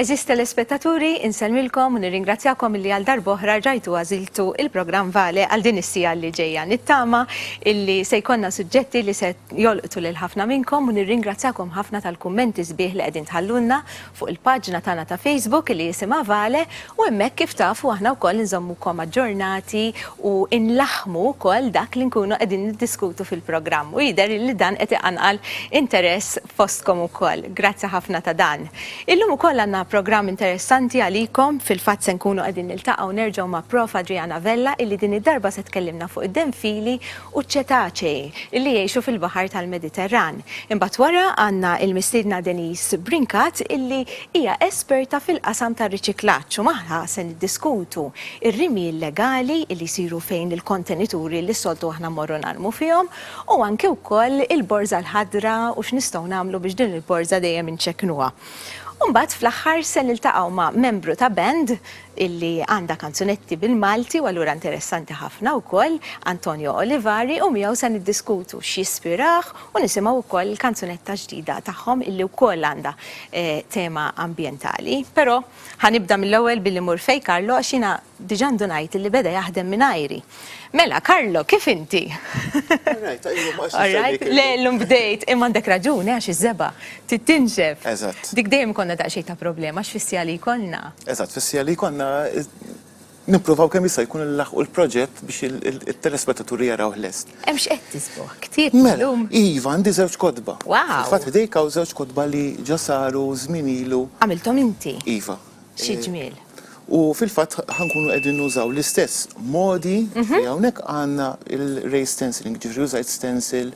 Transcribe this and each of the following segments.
Eżis telespettaturi, insellmilkom u nirringrazzjakom li għal darboħra ġajtu għaziltu il-programm Vale għal din is-sija li ġejja. Nittama illi se jkollna suġġetti li se jolqtu lil ħafna minnkom u nirringrazzjakom ħafna tal-kummenti sbieħ li qegħdin tħallulna fuq il-paġna tagħna ta' Facebook li jisimha Vale u hemmhekk kif tafu aħna wkoll inżommukom aġġornati u nlaħħmu wkoll dak li nkunu qegħdin niddiskutu fil-programm u jidher li dan qed iqanqal interess fostkom ukoll. Grazzi ħafna ta' dan. Illum ukoll għandna programm interessanti għalikom, fil-fatt se nkunu qegħdin niltaqgħu nerġgħu ma' Prof. Adriana Vella illi din id-darba se tkellimna fuq id-denfili u ċ-ċetacei li jgħixu fil-baħar tal-Mediterran. Imbagħad wara għandna l-mistiedna Denise Brincat illi hija esperta fil-qasam tar-riċiklaġġ u magħha se niddiskutu r-rimi illegali li jsiru fejn il-kontenituri li s-soltu aħna mmorru narmu fihom u anki wkoll il-borża l-ħadra u x'nistgħu nagħmlu biex din il-borża dejjem inċekknuha. U mbagħad fl-aħħar se niltaqgħu ma' membru ta' band illi għandha kanzunetti bil-Malti u allura interessanti ħafna wkoll, Antonio Olivari, u miegħu se niddiskutu x'ispirah u nisimgħu wkoll il-kanzunetta ġdida tagħhom illi wkoll għandha tema ambjentali. Però ħa nibda mill-ewwel billi mmur fejn Carlo għax jiena diġà ndunajt illi beda jaħdem mingħajri. Mela, Karlo, kif inti? Alright, għajju ma Alright, le l-lum bdejt, imma għandek raġuni għax iż-żeba, tittinxef. Eżatt. Dik dejjem konna daqxej ta' problema, għax fissija li konna. Eżatt, fissija li konna nippruvaw kemm jista' jkun il-laħqu l-proġett biex il-telespettaturi jaraw l-est. Hemm x'qed tisbuħ, ktieb mela, l-lum. Iva, għandi żewġ kodba. Wow. Fatt dik hawn żewġ kodba li ġasaru żminilu. Għamiltom inti. Iva. Xi ġmiel. U fil-fatt ħankunu qegħdin nużaw l-istess modi mhm. li hawnhekk għandna il-ray stenciling, ġifri użajt stencil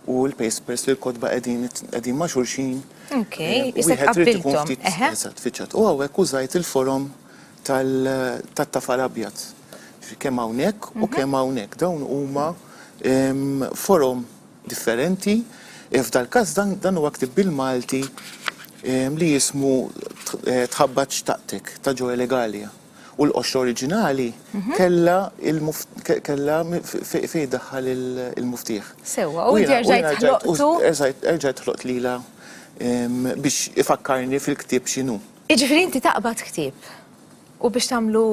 u l-paste press li l-kodba qegħdin ma' xulxin. Ok, jisek qabbiltom. Eżatt, fiċċat. U hawnhekk użajt il-forom tat-tafal abjad. Kemm hawnhekk u mhm. kemm hawnhekk dawn huma forom differenti, f'dal-każ dan dan huwa ktieb bil-Malti li jismu Tħabbat x'taqtek ta' Joel Egalia u l-qoxra oriġinali kellha kellha fejn iddaħħal il-muftieħ. Sewwa, u inti erġajt ħloqtu? Erġajt ħloqt lilha biex ifakkarni fil-ktieb x'inhu. Jiġifieri inti taqbad ktieb? U biex tagħmlu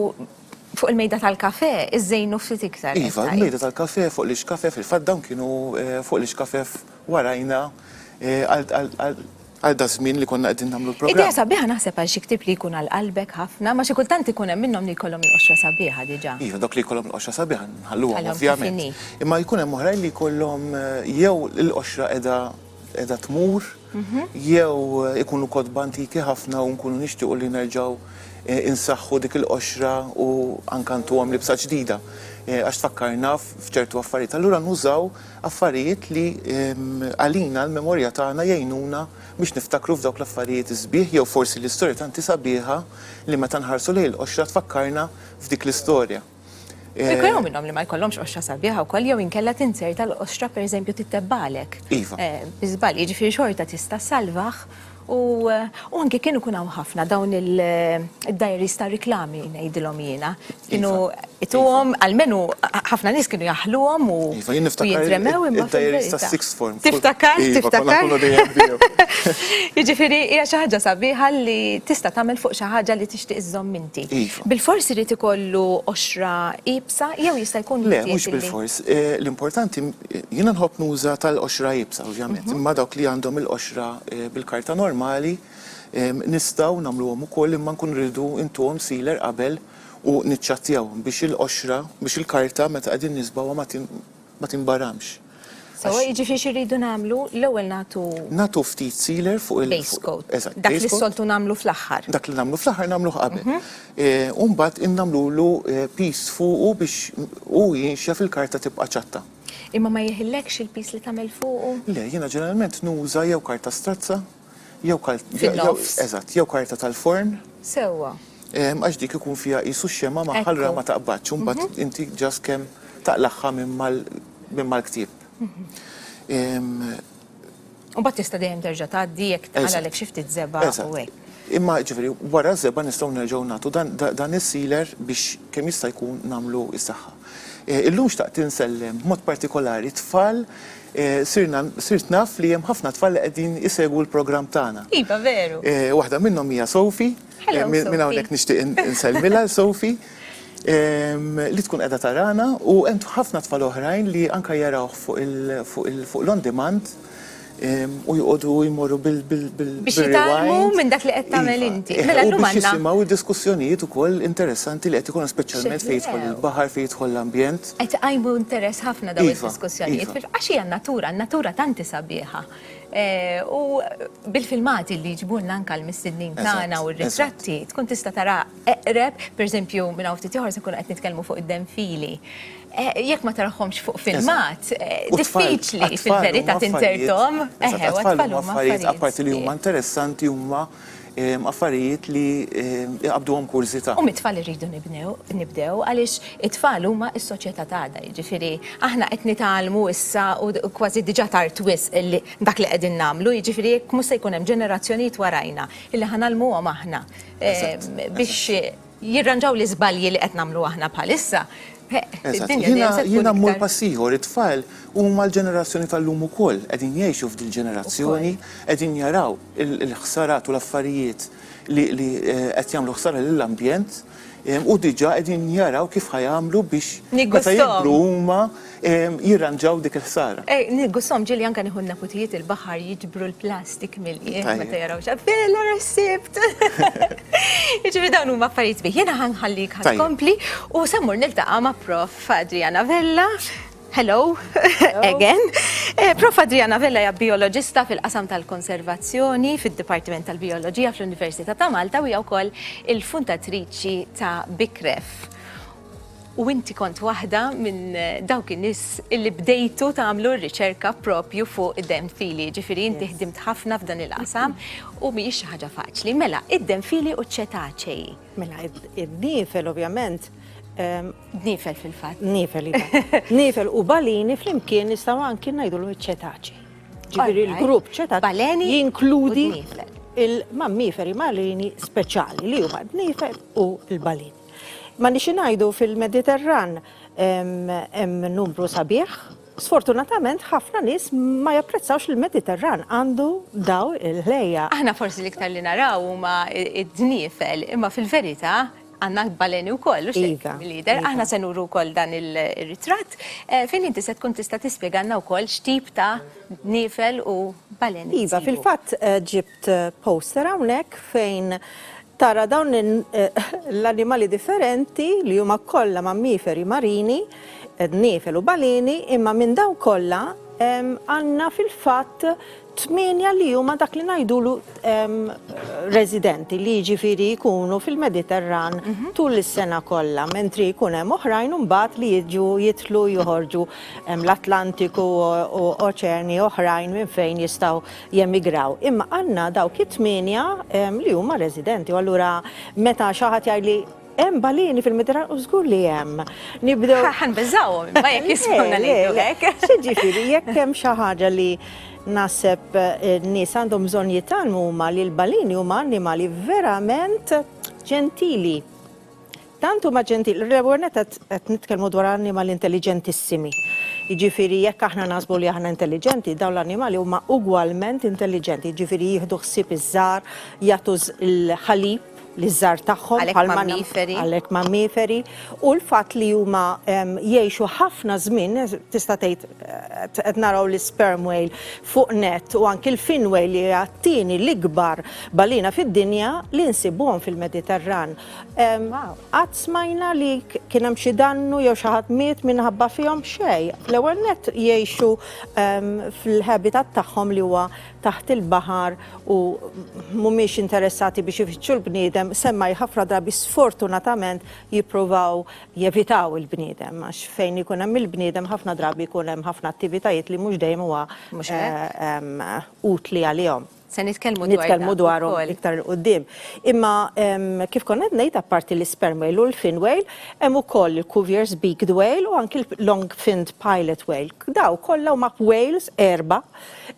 fuq il-mejda tal-kafè, iżżejnu ftit iktar. Iva, il-mejda tal-kafè fuq l-ixkafef, fil-fatt dawn kienu fuq l-ixkafef warajna għal daż-żmien li konna qegħdin nagħmlu l-programm. Idea sabiħa naħseb għal xi ktieb li jkun għal qalbek ħafna, ma xi kultant ikun hemm minnhom li jkollhom il-qoxra sabiħa diġà. Iva, dawk li jkollhom il-qoxra sabiħa nħalluhom ovvjament. Imma jkun hemm oħrajn li jkollhom jew il-qoxra qiegħda qiegħda tmur jew ikunu kotba antiki ħafna u nkunu nixtiequ li nerġgħu insaħħu dik il-qoxra u anke ntuhom libsa ġdida għax tfakkarna f'ċertu affarijiet. Allura nużaw affarijiet li għalina l-memorja tagħna jgħinuna biex niftakru f'dawk l-affarijiet is-sbieħ jew forsi l-istorja tant hi sabiħa li meta nħarsu lejn il-qoxra tfakkarna f'dik l-istorja. Eh, Kieku jew minnhom li ma jkollhomx qoxra sabiħa wkoll jew inkella tinser tal-qoxra pereżempju tittebbalek. Iva. Eh, Biżbal, jiġifieri xorta tista' salvaħ u eh, u anke kienu kun hawn ħafna dawn il-diaries ta' riklami ngħidilhom jiena. Kienu iva. ituhom iva. għalmenu ħafna nies kienu jaħluhom u iva, jintremew imma diaries ta' six form. Tiftakar, tiftakar. Jiġifieri hija xi ħaġa sabiħa li tista' tagħmel fuq xi ħaġa li tixtieq iżżomm inti. Iva. Bilfors irid ikollu qoxra iebsa jew jista' jkun miżjed illi. Le, mhux bilfors. L-importanti, jiena nħobb nuża tal-qoxra iebsa ovvjament, imma dawk li għandhom il-qoxra bil-karta normali nistgħu nagħmluhom ukoll imma nkunu rridu intuhom sealer qabel u niċċattjawhom biex il-qoxra, biex il-karta meta qegħdin nisbgħuha ma ma tinbaramx. Sewwa, jiġifieri xi rridu nagħmlu, l-ewwel nagħtu. Nagħtu ftit sealer fuq il. Base coat. Eżatt. Dak li s-soltu nagħmlu fl-aħħar. Dak li nagħmlu fl-aħħar nagħmluh qabel. U mbagħad innagħmlulu piece fuqu biex hu jinxef il-karta tibqa' ċatta. Imma ma jeħillekx il-piece li tagħmel fuqu? Le, jiena ġeneralment nuża jew karta strazza. Jew kal- jew- jew- Fin-nofs. Eżatt, jew karta tal-forn, Sewwa. eh, għax dik ikun fiha qisu x-xemgħa magħha allura Ekku. ma taqbadx u mbagħad inti ġast kemm taqlagħha minn mal- minn mal-ktieb. Em, U mbagħad tista' dejjem terġa' tgħaddi jekk Eżatt. tqalalek xi ftit żebgħa Eżatt. u hekk. Imma ġifieri wara ż-żebgħa nistgħu nerġgħu nagħtu dan da- dan is-sealer biex kemm jista' jkun nagħmlu s-saħħa. Eh, Illum xtaqt insellem b'mod partikolari tfal Sirna, sirt naf li hemm ħafna tfal li qegħdin isegwu l-programm tagħna. Iva, veru. Waħda minnhom hija Sophie. Hello, Sophie. Minn hawnhekk nixtieq insellmilha l Sophie li tkun qiegħda tarana u hemm ħafna tfal oħrajn li anke jarawh fuq il fuq l-on demand u joqogħdu jmorru bil bil bil Biex jitgħallmu minn dak li qed tagħmel inti. Mela llum għandna. Biex jisimgħu d-diskussjonijiet ukoll interessanti li qed ikollna speċjalment fejn jidħol il-baħar, fejn jidħol l-ambjent. Qed iqajmu interess ħafna dawn id-diskussjonijiet għax hija n-natura, n-natura tant hi sabiħa. U bil-filmati li jġibulna anke l-mistednin tagħna u r-ritratti tkun tista' tara eqreb, pereżempju minn hawn ftit ieħor se nkunu qed nitkellmu fuq id-denfili. Jekk ma tarahomx fuq filmat, diffiċli fil-verità tinterthom. Eħe, għat-tfal huma affarijiet. Apparti li huma interessanti huma affarijiet li jqabbduhom kurżità. U mit-tfal irridu nibdew għaliex it-tfal huma s-soċjetà ta' għada, jiġifieri aħna qed nitgħallmu issa u kważi diġà tard wisq dak li qegħdin nagħmlu, jiġifieri jekk mhux se jkun hemm ġenerazzjonijiet warajna li ħa ngħallmuhom aħna biex jirranġaw l-iżbalji li qed nagħmlu aħna bħalissa, id-dinja dejjem se tkun iktar. Eżatt. Jiena mmur pass ieħor, it-tfal huma l-ġenerazzjoni tal-lum ukoll, qegħdin jgħixu f'dil ġenerazzjoni, qegħdin jaraw il-ħsarat u l-affarijiet li qed jagħmlu ħsara lill-ambjent u diġà qegħdin jaraw kif ħa jagħmlu biex meta jikbru huma. jirranġaw dik il-ħsara. Ej, gussom ġili anka nieħu neputijiet il-baħar jiġbru l-plastik mill-jien meta jaraw xa. Bella resibt! Iġifi dawn huma affarijiet bih. Jiena ħanħallik ħad kompli u sammur niltaqa' ma' prof Adriana Vella. Hello, again. Eh, prof Adriana Vella hija bioloġista fil-qasam tal-konservazzjoni fid-Dipartiment tal-Bioloġija fl-Università ta' Malta u hija wkoll il-fundatriċi ta' Bikref. U inti kont waħda minn dawk in-nies illi bdejtu tagħmlu r-riċerka propju fuq id-denfili, jiġifieri inti ħdimt ħafna f'dan il-qasam u mhijiex xi ħaġa faċli. Mela, id-denfili u ċ-ċetaċei. Mela, id-dniefel ovvjament. Dniefel fil-fatt. Dniefel, iva. Dniefel u balini flimkien nistgħu anki ngħidulhom iċ-ċetaċei. Ġifieri l-grupp ċetaċei jinkludi il-mammiferi marini speċjali li huma d-dniefel u l-balini. Ma nixi ngħidu fil-Mediterran hemm numru sabiħ. Sfortunatament ħafna nies ma japprezzawx li l-Mediterran għandu daw il-ħlejja. Aħna forsi l-iktar li naraw huma d-dniefel, imma fil-verità għandna l-baleni wkoll, u x'hekk lider. Aħna se nuru wkoll dan ir-ritratt fejn inti se tkun tista' tispjegalna wkoll x'tip ta' dniefel u baleni. Iva, fil-fatt ġibt poster hawnhekk fejn tara dawn l-animali differenti li huma kollha mammiferi marini, dniefel u baleni, imma minn dawn kollha għandna fil-fatt tmienja li huma dak li ngħidulu residenti li jiġifieri jkunu fil-Mediterran tul is-sena kollha, mentri jkun hemm oħrajn imbagħad li jiġu jidħlu joħorġu l-Atlantiku u oċeani oħrajn minn fejn jistgħu jemigraw. Imma għandna dawk it-tmienja li huma residenti u allura meta xi ħadd jgħidli hemm balini fil-Mediterran u żgur li hemm. Nibdew. Ħan biżawhom, ma jekk jismuna li hekk. Ġifieri jekk hemm xi ħaġa li naħseb eh, nies għandhom bżonn jitalmu huma li l-balini huma annimali verament ġentili. Tant huma ġentili, l-ewwel nett qed qed nitkellmu dwar annimali intelliġentissimi. Jiġifieri jekk aħna naħsbu li aħna intelliġenti, dawn l-annimali huma ugwalment intelliġenti, jiġifieri jieħdu ħsieb iż-żgħar, jagħtu l-ħalib liż-żgħar tagħhom Għalhekk bħalma nam- mammiferi. għalhekk mammiferi, u l-fatt li huma em, jgħixu ħafna żmien, tista' tgħid qed qed naraw l-isperm whale fuq nett u anki l-fin whale li hija t-tieni l-ikbar balina fid-dinja li nsibuhom fil-Mediterran. Qatt smajna li kien hemm xi dannu jew xi ħadd miet minħabba fihom xej. L-ewwel nett jgħixu fil-habitat tagħhom li huwa taħt il-baħar u mhumiex interessati biex ifittxu l-bniedem, semmai ħafna drabi sfortunatament jippruvaw jevitaw il-bniedem għax fejn ikun hemm il-bniedem ħafna drabi jkun hemm ħafna attivitajiet li mhux dejjem huwa utli għalihom. Se nitkellmu dwar dan ukoll. Nitkellmu dwarhom iktar 'il quddiem. Imma kif kont qed ngħid apparti l-isperm whale u l-fin whale, hemm ukoll il-Cuvier's beaked whale u anki l-long finned pilot whale. Dawn kollha huma whales għerba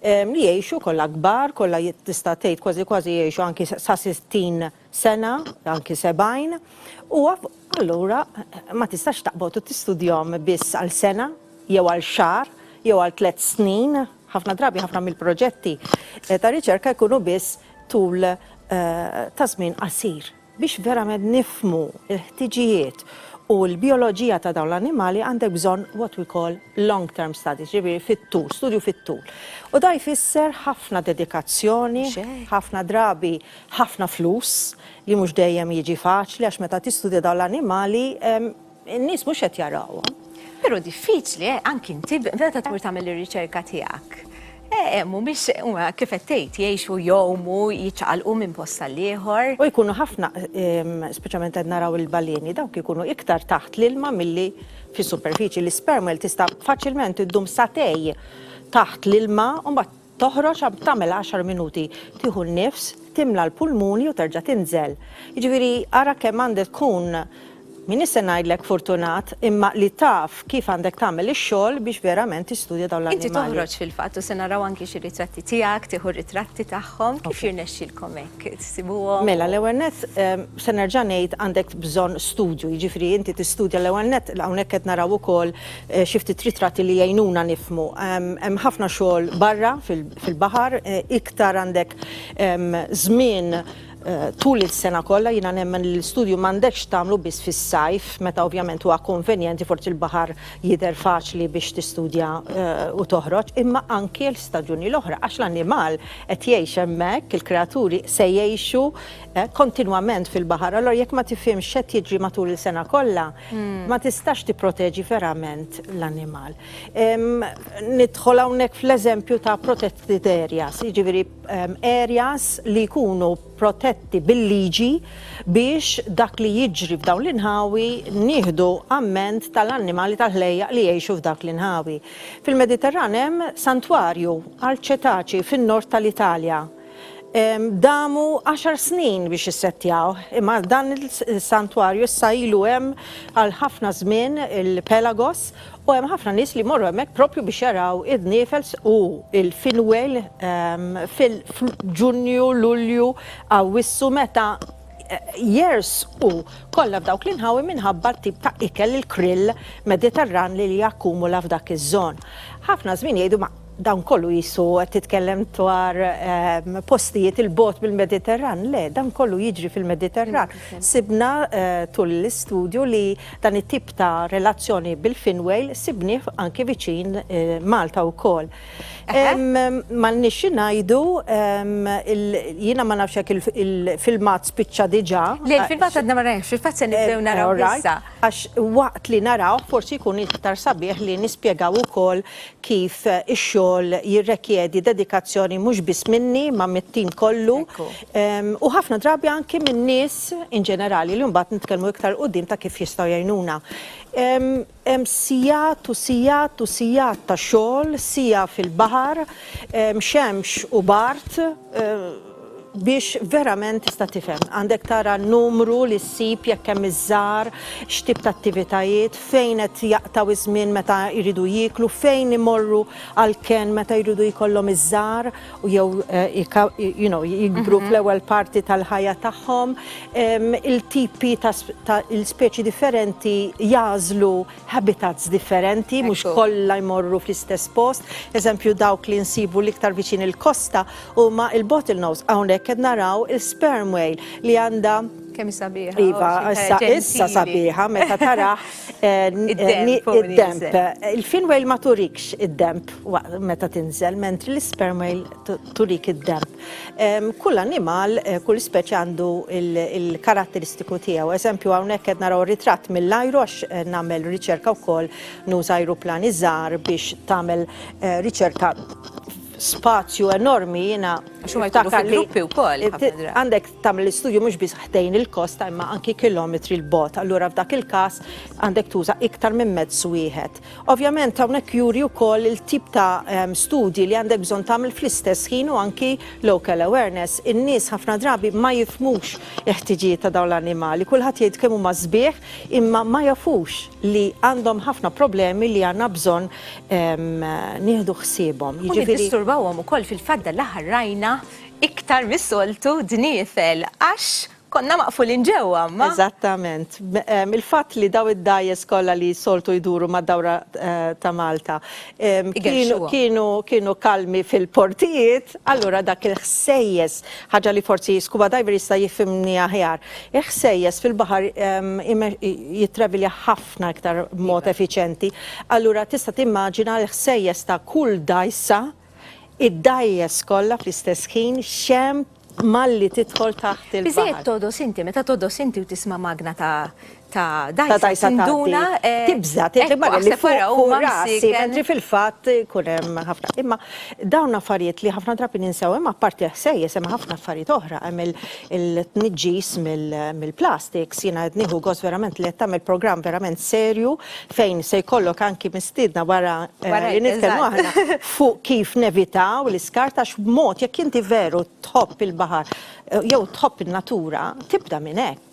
li jgħixu kollha kbar, kollha tista' tgħid kważi kważi jgħixu anki sa 60 sena, anki 70, u allura ma tistax taqbad u tistudjahom biss għal sena jew għal xahar jew għal tliet snin. Ħafna drabi ħafna mill-proġetti ta' riċerka jkunu biss tul ta' żmien qasir. Biex verament nifhmu l-ħtiġijiet u l-bijoloġija ta' dawn l-annimali għandek bżonn what we call long term studies, jiġifieri fit-tul, studju fit-tul. U dan jfisser ħafna dedikazzjoni, ħafna drabi, ħafna flus, li mhux dejjem jiġi faċli għax meta tistudja dawn l-annimali n-nies mhux qed jarawhom. Però diffiċli, eh, anki inti meta tmur tagħmel ir-riċerka tiegħek. Eh, eh mhumiex huma kif qed tgħid jgħixu jgħumu, jiċċaqalqu minn post tal-ieħor. U jkunu ħafna, ehm, speċjalment qed naraw il-baleni, dawk ikunu iktar taħt l-ilma milli fis-superfiċi. L-ispermel tista' faċilment iddum satej taħt l-ilma u mbagħad Toħroġ għab tagħmel għaxar minuti, tieħu n-nifs, timla l-pulmuni u terġa' tinżel. Jiġifieri ara kemm għandek tkun, m'iniex se ngħidlek fortunat, imma li taf kif għandek tagħmel ix-xogħol biex verament tistudja dawn l-annimali. Inti toħroġ fil-fatt u se naraw anki xi ritratti tiegħek, tieħu r-ritratti tagħhom. Kif jirnexxilkom hekk tsibuhom? Mela, l-ewwel nett se nerġa' ngħid għandek bżonn studju, jiġifieri inti tistudja l-ewwel nett, hawnhekk qed naraw ukoll Xi ftit ritratti li jgħinuna nifhmu. Hemm ħafna xogħol barra fil-baħar, iktar għandek żmien tul is-sena kollha, jiena nemmen li l-istudju m'għandekx tagħmlu biss fis-sajf meta ovvjament huwa konvenjenti forsi l-baħar jidher faċli biex tistudja u toħroġ, imma anki l-istaġuni l-oħra għax l-annimal qed jgħix hemmhekk, il-kreaturi se jgħixu kontinwament fil-baħar. Allura jekk ma tifhimx x'qed jiġri matul is-sena kollha, ma tistax tipproteġi verament l-annimal. Nidħol hawnhekk fl-eżempju ta' protected areas, jiġifieri areas li jkunu protetti bil-liġi biex dak li jiġri f'dawn l-inħawi nieħdu amment tal-annimali tal-ħlejjaq li jgħixu f'dak l-inħawi. Fil-Mediterran hemm santwarju għal ċetaċi fin-Nord tal-Italja. Damu għaxar snin biex issettjawh, imma dan is-santwarju issa ilu hemm għal ħafna żmien, il-Pelagos, u hemm ħafna nies li jmorru hemmhekk proprju biex jaraw id-dniefel u l-finwejl fil-Ġunju, Lulju, Awwissu meta jersqu kollha f'dawk l-inħawi minħabba t-tip ta' ikel, il-krill Mediterran li jakkumula f'dak iż-żon. Ħafna żmien jgħidu ma Dan kollu qisu qed titkellem dwar postijiet 'il bogħod mill-Mediterran. Le, dan kollu jiġri fil-Mediterran. Sibna tul l-istudju li dan it-tip ta' relazzjoni bil-fin whale sibnieh anki viċin Malta wkoll. M'għandniex xi ngħidu, jiena ma nafx jekk il-filmat spiċċa diġà. Le, il-filmat għadna ma rajnihx, fil-fatt se nibdew narawh issa. Għax waqt li narawh forsi jkun iktar sabiħ li nispjegaw ukoll kif ix-xogħol jirrekjedi dedikazzjoni mhux biss minni ma mit-tim kollu u ħafna drabi anki min-nies in ġenerali li mbagħad nitkellmu iktar quddiem ta' kif jistgħu jgħinuna. Hemm sigħat u sigħat u sigħat ta' xogħol, siegħa fil-baħar, xemx u bard, Biex verament tista' tifhem, għandek tara n-numru li ssib jekk hemm iż-żgħar, x'tip ta' attivitajiet, fejn qed jaqtgħu iż-żmien meta jridu jieklu, fejn imorru għall-kenn meta jridu jkollhom iż-żgħar u jew you know jikbru fl-ewwel parti tal-ħajja tagħhom. Il-tipi ta' il-speċi differenti jagħżlu habitats differenti, mhux Ekku. kollha jmorru fl-istess post. Eżempju dawk li nsibu l-iktar viċin il-kosta huma il-bottlenose. Hawnhekk qed naraw il-sperm whale li għandha Kemm sabiħa. Iva, oh, xi issa, ħaġa issa ġentili. sabiħa meta tara eh, n- Id-demp eh, ni- fuq id-demp. nieżel. Il-fin whale ma turikx id-demp waqt- meta tinżel, mentri l-sperm whale tu- turik id-demp. Kull annimal, kull speċi għandu l-karatteristiku tiegħu. Eżempju hawnhekk qed naraw ritratt mill-ajru għax nagħmel riċerka wkoll nuża ajruplani żgħar biex tagħmel riċerka spazju enormi jiena Għax huma jkunu fi gruppi wkoll. Għandek tagħmel l-istudju mhux biss ħdejn il-kosta imma anki kilometri l-bogħod. Allura f'dak il-każ għandek tuża iktar minn mezz wieħed. Ovvjament hawnhekk juri wkoll il-tip ta' ehm, studji li għandek bżonn tagħmel fl-istess ħin u anki local awareness. In-nies ħafna drabi ma jifmux il-ħtiġijiet ta' dawn l-annimali. Kulħadd jgħid kemm huma sbieħ imma ma jafux li għandhom ħafna problemi li għandna bżonn ehm, nieħdu ħsiebhom. U niddisturbawhom ukoll fil-fadda l-aħħar rajna iktar mis-soltu dniefel għax Konna maqfulin ġewwa, imma. Eżattament. Il-fatt li dawn id-dgħajjes kollha li soltu jduru mad-dawra ta' Malta kienu kalmi fil-portijiet, allura dak il-ħsejjes, ħaġa li forsi scuba diver jista' jifhimni aħjar, il-ħsejjes fil-baħar jittravilja ħafna iktar b'mod effiċjenti. Allura tista' timmaġina l-ħsejjes ta' kull dgħajsa, id-dgħajjes kollha fl-istess ħin, xemp, malli tidħol taħt il-baħar. Biżżejjed togħdos inti, meta togħdos inti u tisma' magna ta' ta' dgħajsa tinduna tibża' tgħid li magna li fuq rasi mentri fil-fatt ikun hemm ħafna. Imma dawn affarijiet li ħafna drabi ninsew hemm apparti l-ħsejjes hemm ħafna affarijiet oħra, hemm il-tniġġis mill-plastiks, jiena qed nieħu gost verament li qed tagħmel programm verament serju fejn se jkollok anki mistiedna wara li nitkellmu aħna fuq kif nevitaw l-iskart għax b'mod jekk inti veru tħobb il-baħar jew tħobb in-natura tibda minn hekk.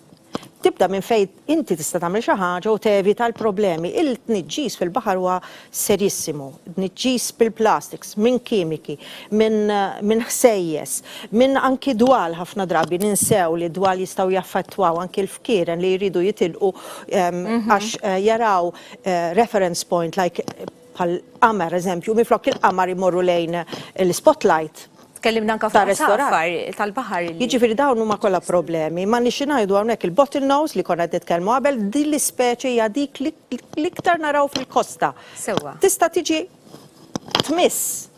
Tibda minn fejn inti tista' tagħmel xi ħaġa u tevita l-problemi. Il-tniġġis fil-baħar huwa serjissimu. Tniġġis bil-plastiks, minn kimiki, minn ħsejjes, minn anki dwal ħafna drabi ninsew li d-dwal jistgħu jaffettwaw anki l-fkieren li jridu jitilqu għax jaraw reference point like bħal qamar eżempju, minflok il-qamar imorru lejn l-spotlight. Tkellimna anka fuq safar tal-baħar. Jiġifieri dawn huma kollha problemi. Ma nixi ngħidu hawnhekk il-bottle nose li konna qed nitkellmu qabel, din l-ispeċi hija dik l-iktar naraw fil-kosta. Sewwa. Tista' tiġi tmiss,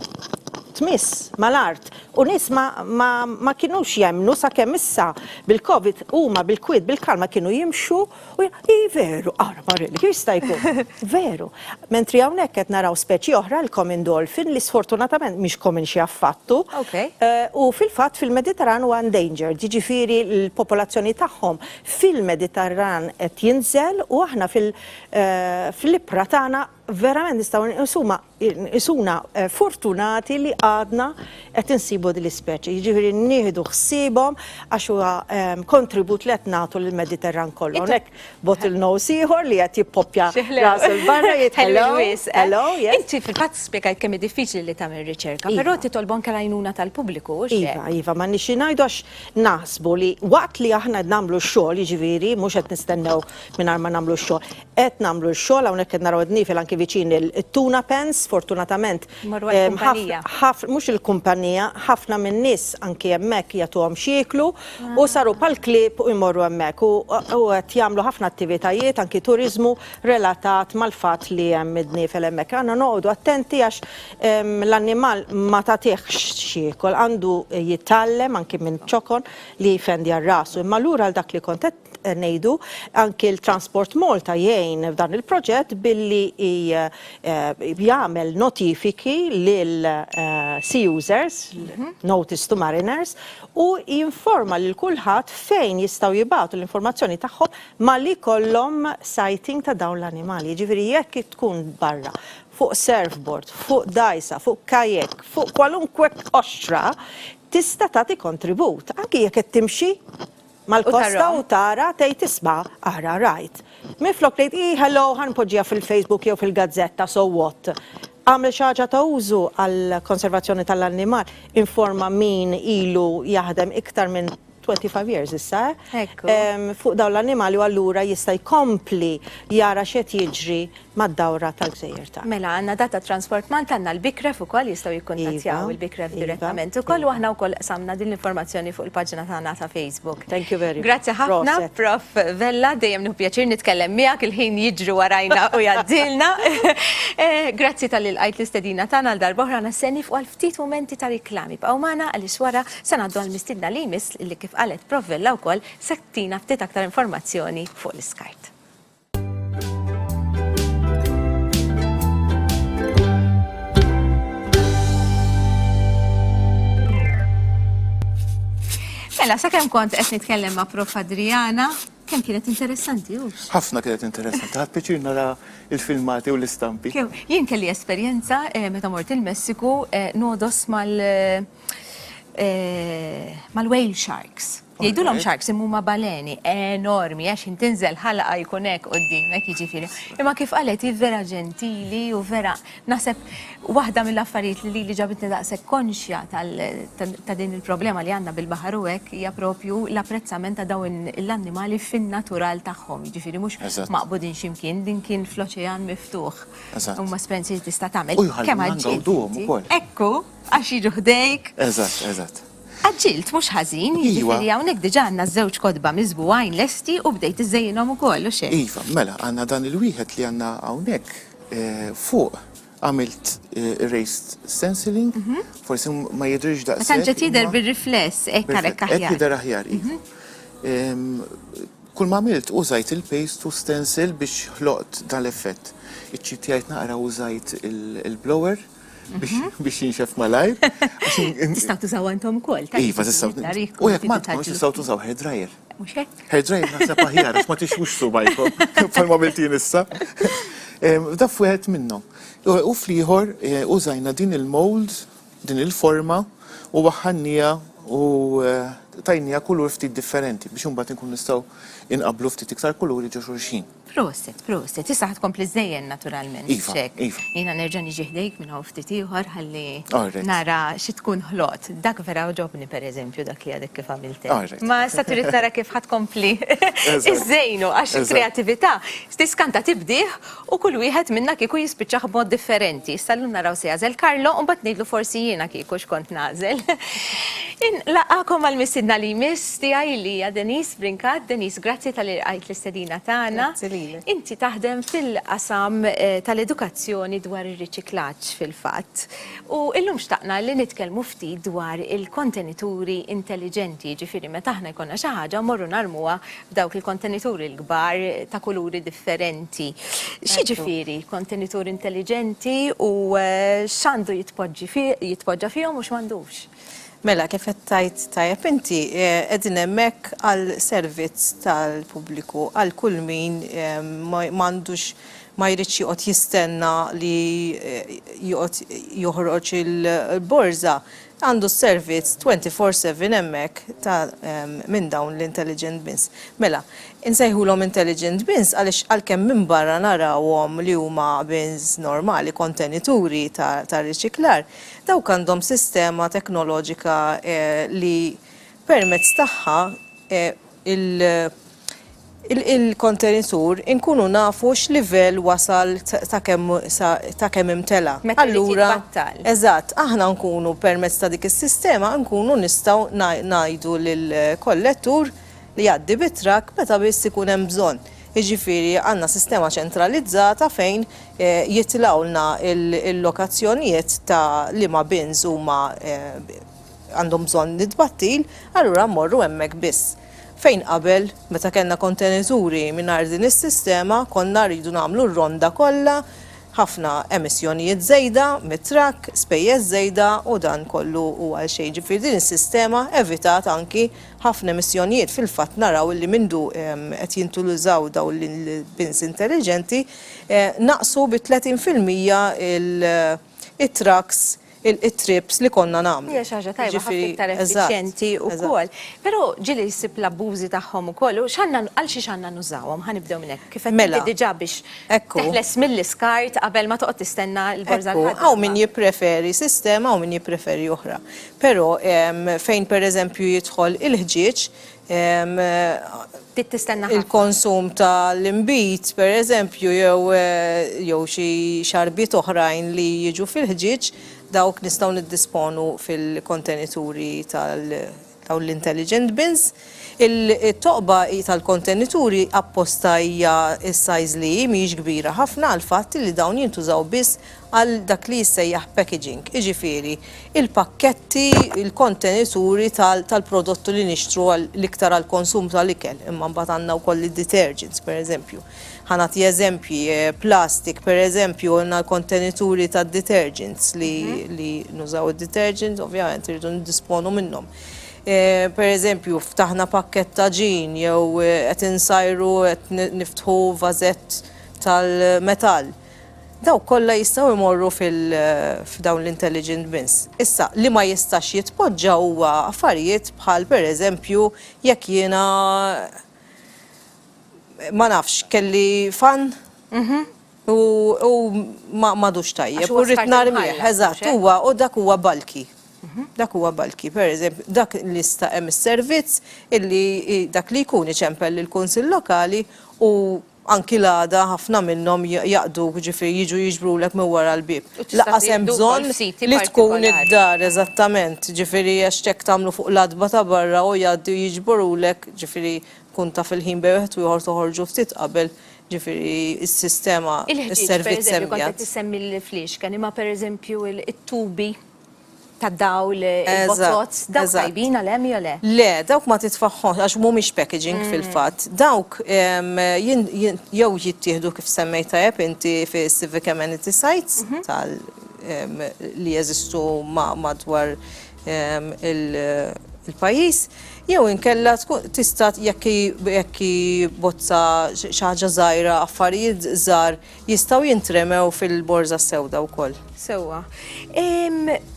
tmiss mal-art u nies ma, ma, ma kinux jemmnu sakemm issa bil-Covid huma bil-kwiet bil-kalma kienu jimxu u hi veru, ara Marelli, kif jista' jkun? Veru. Mentri hawnhekk qed naraw speċi oħra, l-common dolphin, li sfortunatament mhix common xi affattu. Okay. U fil-fatt fil-Mediterran huwa endangered, jiġifieri l-popolazzjoni tagħhom fil-Mediterran qed jinżel u aħna fil, fl-ibħra tagħna Verament nistgħu nqisuhma nqisuna eh, fortunati li għadna qed insibu din l-ispeċi, jiġifieri nieħdu ħsiebhom għax huwa ehm, kontribut li qed nagħtu lill-Mediterran kollu. Hawnhekk bottle nose ieħor li qed jippoppja rasu l-barra jitħellu. Hello, yes. Inti fil-fatt spjegajt kemm diffiċli li tagħmel riċerka, però iva. titolbu anke l-għajnuna tal-pubbliku. Iva, iva, ma nixi ngħidu għax naħsbu li waqt li aħna nagħmlu x-xogħol, jiġifieri mhux qed nistennew mingħajr ma nagħmlu x-xogħol, Qed nagħmlu x-xogħol, hawnhekk qed naraw id-dniefel anki viċin it-tuna pens, sfortunatament mhux il-kumpanija, ħafna min-nies anki hemmhekk jagħtuhom x'jieklu u saru bħall-klieb u jmorru hemmhekk u qed jagħmlu ħafna attivitajiet anki turiżmu relatat mal-fatt li hemm id-dniefel hemmhekk. Għandna noqogħdu attenti għax l-annimal ma tagħtihx x'jiekol, għandu jitgħallem anki minn ċokon li jfendi għal rasu. Imma lura għal dak li kont qed ngħidu, anki l-Transport Malta jgħin f'dan il-proġett billi jagħmel notifiki lil sea users, notice to mariners, u jinforma lil kulħadd fejn jistgħu jibgħatu l-informazzjoni tagħhom malli jkollhom sighting ta' dawn l-animali. Jiġifieri jekk tkun barra, fuq surfboard, fuq dgħajsa, fuq kayak, fuq kwalunkwe qoxra, tista' tagħti kontribut, anki jekk qed timxi. mal-kosta u tara, tgħid isma', ara, rajt. Minflok tgħid, ih, hello, ħa npoġġiha fil-Facebook jew fil-gazzetta, so what? Agħmel xi ħaġa ta' użu għall-konservazzjoni tal-annimal, informa min ilu jaħdem iktar minn 25 years issa, eh? Hekk hu. Fuq dawn l-annimali u allura jista' jkompli jara x'qed jiġri mad-dawra tal-gżejjer tagħna. Mela għandna dak tat-Transport Malta, għandna l-BICREF ukoll jistgħu jikkuntattjaw il-BICREF direttament ukoll u aħna wkoll qsamna din l-informazzjoni fuq il-paġna tagħna ta' Facebook. Grazzi ħafna Prof. Vella, dejjem nieħu pjaċir nitkellem miegħek, il-ħin jiġri warajna u jgħaddilna. Grazzi talli lqajt l-istedina tagħna għal darba oħra, aħna se nieqfu għal ftit mumenti ta' riklam. Ibqgħu magħna għaliex wara se ngħaddu għall-mistiedna li jmiss li kif qalet Prof. Vella wkoll se ttina ftit aktar informazzjoni fuq l-iskart. Mela, sa' kem kont qed nitkellem ma' Prof Adriana, kem kienet interessanti, u? Ħafna kienet interessanti, ħad piċir nara il-filmati u l-istampi. Jien kelli esperjenza eh, meta mort il-Messiku eh, nodos mal eh, mal-whale sharks. Jgħidulhom sharks imma huma baleni enormi għax int tinżel ħalqa jkun hekk qudiemek jiġifieri. Imma kif qalet hi vera ġentili u vera naħseb waħda mill-affarijiet li lili ġabitni daqshekk konxja ta' din il-problema li għandna bil-baħar u hekk hija propju l-apprezzament ta' dawn l-annimali fin-natural tagħhom, jiġifieri mhux maqbudin xi mkien, din kien fl-oċean miftuħ. Huma esperjenzi li tista' tagħmel. Kemm għall-ġid. Ekku, għax jiġu ħdejk. Eżatt, eżatt. Għaġġilt mhux ħażin, jiġifieri hawnhekk diġà għandna żewġ kotba miżbugħin lesti u bdejt iżżejjinhom ukoll, hux hekk? Iva, mela, għandna dan il-wieħed li għandna hawnhekk fuq. Għamilt erased stenciling, forsi ma jidhirx daqshekk. Ma tantx qed jidher bir-rifless, hekk għalhekk aħjar. Hekk jidher aħjar, iva. Kulma għamilt użajt il-paste u stencil biex ħloqt dan l-effett. Iċ-ċipjajt naqra użajt il-blower biex jinxef malajr. Tistaw tużaw għantom kol. Iva, tistaw. U jek ma tkunx tistaw tużaw hair dryer. Muxek? Hair dryer naħseb aħjar, ma tixux subajkom, palma bilti nissa. Da fuħet minnom. U fliħor e, użajna din il-mold, din il-forma, u waħħannija u e, tajnija kulur ftit differenti biex un bat nkun nistaw inqablu ftit iktar kuluri ġo xurxin. Proset, proset, issa ħad kompli żejjen naturalment. Iva, Xek. iva. Jina nerġa' niġi ħdejk minn hawn ftit ieħor ħalli Alright. nara xi tkun ħlot. Dak vera oġobni pereżempju dak li għadek kif għamiltek. Alright. Ma issa trid tara kif ħad kompli Eżatt. iżżejnu għax Eżatt. il-kreatività tiskanta tibdih u kull wieħed minna kieku jispiċċah b'mod differenti. Issa llum naraw se jagħżel Carlo u mbagħad ngħidlu forsi jiena kieku x'kont nagħżel. In laqgħakom għall-mistiedna li jmiss. tiegħi li hija Denise Brincat. Denise, grazzi talli lqajt l-istedina tagħna. Grazzi lilek. Inti taħdem fil-qasam tal-edukazzjoni dwar ir-riċiklaġġ fil-fatt. U illum xtaqna li nitkellmu ftit dwar il-kontenituri intelliġenti, jiġifieri meta aħna jkollna xi ħaġa mmorru narmuha f'dawk il-kontenituri l-kbar ta' kuluri differenti. X'jiġifieri kontenitur intelliġenti u x'għandu jitpoġġi fih, jitpoġġa fihom u x'm'għandux? Mela, kif qed tgħid tajjeb inti, qegħdin hemmhekk għal servizz tal-pubbliku, għal kull min m'għandux ma jridx joqgħod jistenna li joqgħod joħroġ il-borża, għandu s-servizz twenty four seven hemmhekk ta' minn dawn l-intelligent bins. Mela, insejħulhom intelligent bins għaliex għalkemm minn barra narawhom li huma bins normali, kontenituri tar-riċiklar, Dawk għandhom sistema teknoloġika li permezz tagħha il-kontenitur inkunu nafu x'livell wasal ta' kemm ta' kemm imtela'. Meta jrid jitbattal. Eżatt, aħna nkunu permezz ta' dik is-sistema nkunu nistgħu ngħidu lill-kollettur li jgħaddi bit-trakk meta biss ikun hemm bżonn. jiġifieri għandna sistema ċentralizzata fejn jitlgħulna l-lokazzjonijiet ta' liema bins huma għandhom bżonn it-tbattil, allura mmorru hemmhekk biss. Fejn qabel, meta kellna kontenituri mingħajr din is-sistema, konna rridu nagħmlu r-ronda kollha, ħafna emissjonijiet żejda mit-trakk, spejjeż żejda u dan kollu hu għalxejn. Ġifieri din is-sistema evitat anki Ħafna emissjonijiet fil-fatt naraw illi mindu qed jintuliżaw dawn l-bins intelliġenti naqsu bi 30 fil-mija il-trucks, it-trips li konna nagħmlu. Hija xi ħaġa tajba ħafna iktar effiċjenti wkoll. Però ġieli jsib l-abbużi tagħhom ukoll u x'għandna għal xiex għandna nużawhom? Ħa nibdew minn hekk. Kif qed inti diġà biex teħles mill-iskart qabel ma toqgħod tistenna l-borża l-ħaddiema. Hawn min jippreferi sistema u min jippreferi oħra. Però fejn pereżempju jidħol il-ħġieġ, il-konsum ta' l-inbid pereżempju jew xi xarbiet oħrajn li jiġu fil-ħġieġ, dawk nistgħu niddisponu fil-kontenituri ta' dawn l-intelligent bins. Il-toqba tal-kontenituri apposta hija s-size li hi, mhijiex kbira ħafna għall-fatt li dawn jintużaw biss għal dak li jissejjaħ packaging, iġifieri l-pakketti, il-kontenituri tal-prodottu li nixtru l-iktar għall-konsum tal-ikel, imma mbagħad għandna wkoll id-detergents, pereżempju. Ħa nagħti eżempji, plastic, pereżempju, għandna l-kontenituri tad-detergents li nużaw id-detergents, ovvjament irridu niddisponu minnhom. Per eżempju, ftaħna pakkett ta' ġin jew qed insajru qed niftħu vażett tal-metall. Dawk kollha jistgħu jmorru f'dawn l-intelligent bins. Issa, li ma jistax jitpoġġa huwa affarijiet bħal per eżempju jekk jiena ma nafx kelli fan, U u ma m'għadux tajjeb. Għax huwa U rrid skart narmih. imħallab, mhux Eżatt, hekk? huwa u dak huwa bulky. Dak huwa bulky. Pereżemp, dak li sta hemm is-servizz illi i dak li jkun iċempel lill-Kunsill Lokali u anki l-għada ħafna minnhom j jaqduk, ġifieri jiġu jiġbrulek minn wara l-bieb. U tista' Lanqas hemm tieħdu bżonn wkoll siti li tkun partikolari. id-dar, eżattament, ġifieri għax hekk tagħmlu fuq l-għatba ta' barra u jgħaddi u jiġborulek, ġifieri tkun taf il-ħin bejn wieħed u ieħor toħorġu ftit qabel Jiġifieri s-sistema, is-servizz hemm qiegħed. Il-ħġieġ, pereżempju, kont qed issemmi l-fliexken, imma pereżempju t-tubi tad-dawl, il-botots, dawk tajbin għal hemm jew le? Le, dawk ma titfagħhomx għax mhumiex packaging fil-fatt. Dawk jew jittieħdu kif semmejt tajjeb inti fis-civic amenity sites li jeżistu madwar il-pajjiż jew inkella tkun tista' jekk jekk bozza xi ħaġa żgħira affarijiet żgħar jistgħu jintremew fil-borża sewda wkoll. Sewwa.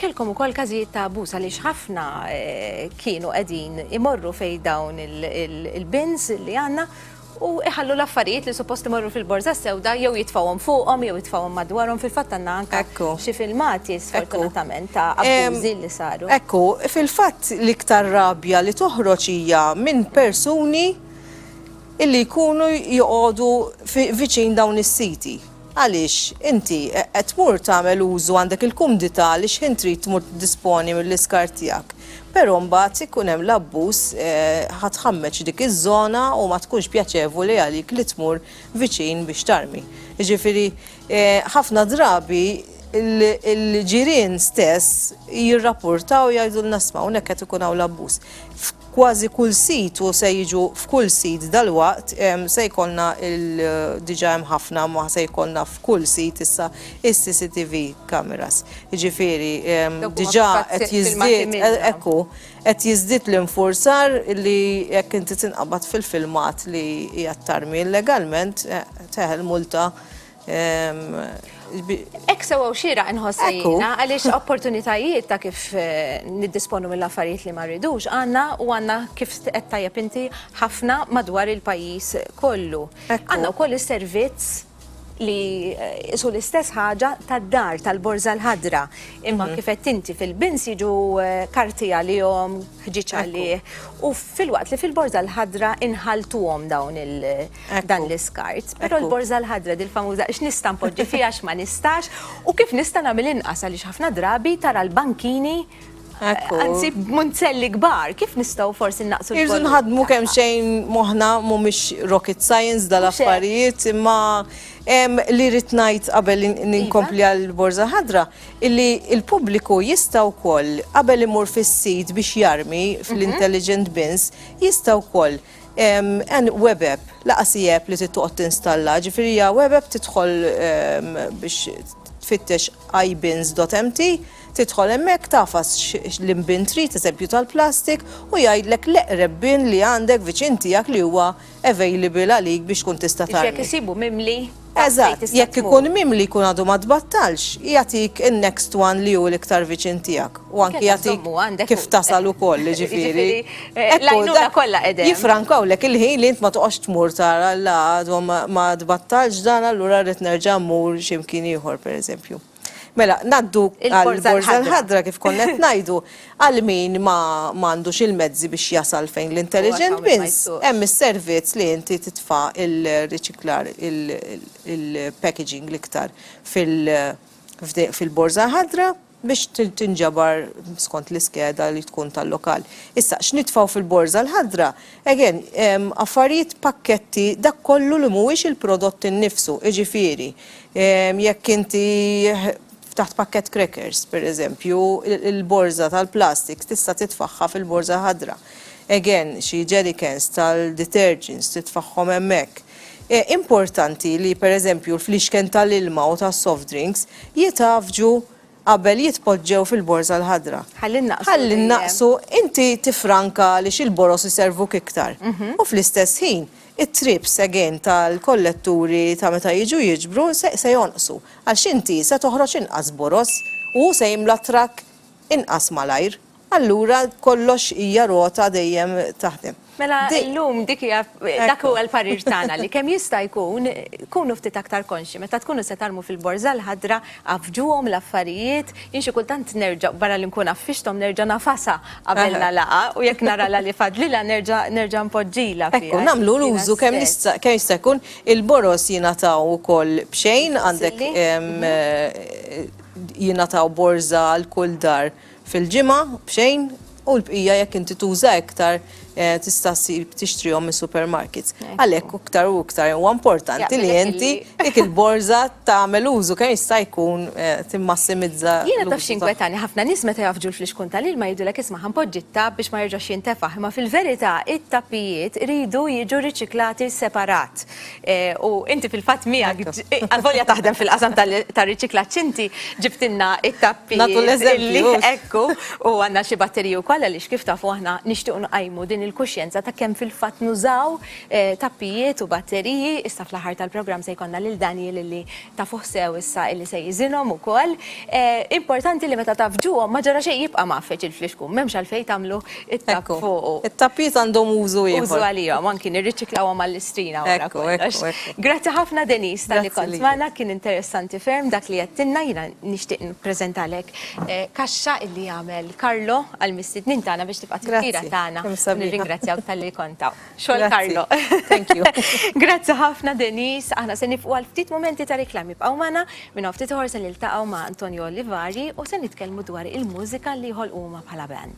Kellkom ukoll każijiet ta' abbuż għaliex ħafna eh, kienu qegħdin imorru fejn dawn il-bins li għandna u jħallu l-affarijiet li suppost imorru fil-borża s-sewda jew jitfgħuhom fuqhom jew jitfgħuhom madwarhom fil-fatt għandna anke xi filmati sfortunatament ta' abbużi li saru. Ekku, fil-fatt l-iktar rabja li toħroġ hija minn persuni illi jkunu joqogħdu viċin dawn is-siti. Għaliex, inti, qed tmur tagħmel użu, għandek il-kumdità li x'ħin trid tmur tiddisponi mill-iskart tiegħek. Però mbagħad ikun hemm l-abbuż, ħa tħammeġ dik iż-żona u ma tkunx pjaċevoli għalik li tmur viċin biex tarmi. Jiġifieri, ħafna drabi l-ġirien stess jirrapportaw jgħidulna isma' hawnhekk qed ikun hawn l-abbuż. kważi kull sit u se jiġu f'kull sit dalwaqt se jkollna il diġa hemm ħafna ma se jkollna f'kull sit issa is-CCTV cameras. Jiġifieri diġa qed jiżdied ekku qed jiżdied l-infurzar li jekk inti tinqabad fil-filmat li hija ttarmi illegalment teħel multa Ek sewa u xira nħoss jiena għaliex opportunitajiet ta' kif eh, niddisponu mill-affarijiet li ma rridux għandna u għandna kif qed tajjeb inti ħafna madwar il-pajjiż kollu. Għandna wkoll is-servizz li eh, isu l-istess ħaġa tad-dar tal-borza l-ħadra. Imma mhm. kifet inti fil-bins jiġu eh, karti għalihom, ħġiċ għalih. U fil-waqt li fil-borza l-ħadra inħaltuhom dawn il- dan l-iskart. Però l-borża l-ħadra dil famuża x'nista' npoġġi fiha x'ma nistax u kif nista' nagħmel inqas għaliex ħafna drabi tara l-bankini Anzi, munzelli kbar, kif nistaw forsi naqsu l Irżu nħadmu kemm xejn moħna mhumiex rocket science dal-affarijiet, imma li rrid ngħid qabel ninkompli iva. għal borza ħadra, illi il-pubbliku jista' wkoll qabel imur fis-sit biex jarmi fl-intelligent mhm. bins, jista' wkoll Hemm web app, lanqas hi app li trid toqgħod tinstalla, ġifieri hija web app tidħol biex tfittex ibins.mt, tidħol hemmhekk tafas l-imbin trid, eżempju tal-plastik, u jgħidlek l-eqreb bin li għandek viċin tiegħek li huwa available għalik biex tkun tista' tagħmel. Biex jekk isibu mimli. Eżatt, jekk ikun mim li jkun għadu ma tbattalx, jagħtik in-next one li hu l-iktar viċin tiegħek u anki jagħtik kif tasal ukoll, jiġifieri. Jifrankawlek il-ħin li int ma toqgħodx tmur tara la għadu ma tbattalx dan allura rrid nerġa' mmur xi mkien ieħor pereżempju. Mela, ngħaddu għall-Borża l-Ħadra kif konna qed ngħidu, għal min ma għandux il-mezzi biex jasal fejn l-intelligent bins, hemm is-servizz li inti titfa' l-riċiklar, il-packaging l-iktar fil-Borża l-Ħadra biex tinġabar skont l-iskeda li tkun tal-lokal. Issa, x'nitfgħu fil-Borża l-Ħadra? Again, affarijiet pakketti dak kollu li mhuwiex il-prodott innifsu, jiġifieri jekk inti ftaħt pakkett crackers, per eżempju, il-borża tal-plastik tista' titfagħha fil-borża ħadra. Again, xi jerrycans tal-detergents titfagħhom hemmhekk. Importanti li per eżempju l-fliexken tal-ilma u tas-soft drinks jitgħaffġu qabel jitpoġġew fil-borża l-ħadra. Ħalli nnaqqsu. Ħalli nnaqqsu, inti tiffranka għaliex il-boroż iservuk iktar. U fl-istess ħin, it-trips again tal-kolletturi ta' meta jiġu jiġbru se jonqsu. Għaliex inti se toħroġ inqas boroż u hu se jimla t-trakk inqas malajr. Allura kollox hija rota dejjem taħdem. Mela llum dik hija dak huwa l-parir tagħna li kemm jista' jkun kunu ftit aktar konxji meta tkunu se tgħallmu fil-Borża l-Ħadra, għaffġuhom l-affarijiet, jien xi kultant nerġa' barra li nkun għaffixthom nerġa' ngħafasha qabel nagħlaqha u jekk nara la li fadlilha nerġa' nerġa' npoġġilha fiha. Ekku, nagħmlu l-użu kemm jista' jkun, il-boroż jingħataw ukoll b'xejn, għandek jingħataw borża għal kull dar. fil-ġimgħa b'xejn u l-bqija jekk inti tuża iktar eh, tista' ssir tixtrihom mis-supermarkets. Għalhekk iktar u iktar huwa importanti li Jaqbilek inti illi- dik il-borża tagħmel użu kemm jista' jkun eh, timmassimizza. Jiena taf l-użu xi nkwetani ħafna nies meta jafġu l-flixkun tal-ilma jgħidulek isma' ħanpoġġi t-tapp biex ma jerġax jintefaħ, imma fil-verità it-tappijiet iridu jiġu riċiklati separat. U inti fil-fatt miegħek, għalvolja taħdem fil-qasam tar-riċiklaġġ inti, ġibtilna t-tappi. Nagħtu l-eżempju. Ekku, u għandna xi batteriji wkoll għaliex kif tafu aħna nixtiequ nqajmu din il-kuxjenza ta' kemm fil-fatt nużaw tappijiet u batteriji. Issa fl-aħħar tal-programm se jkollna lil Daniel li tafuh sew issa illi se jiżinhom ukoll, importanti li meta taf ġuhom ma ġara xejn jibqa' mgħaffeġ il-flixkun, m'hemmx għalfejn tagħmlu t-tapp fuqu. Ekku, it-tappijiet għandhom użu ieħor. Użu għalihom, anki nirriċiklawhom għall-istrina wara kollox. Grazzi ħafna Denise talli kont magħna, kien interessanti ferm dak li għedtilna, jiena nixtieq nippreżentalek kaxxa illi għamel Carlo għall-mistednin tagħna biex tibqa' tifkira tagħna. Grazzi, kemm sabiħa. Nirringrazzjawk talli kont hawn. Xogħol Karlo. Thank you. Grazzi ħafna Denise, aħna se nifqu għal ftit momenti ta' reklami b'qaw magħna, minn hawn ftit ħor se niltaqgħu ma' Antonio Olivari u se nitkellmu dwar il-mużika li jħol huma bħala band.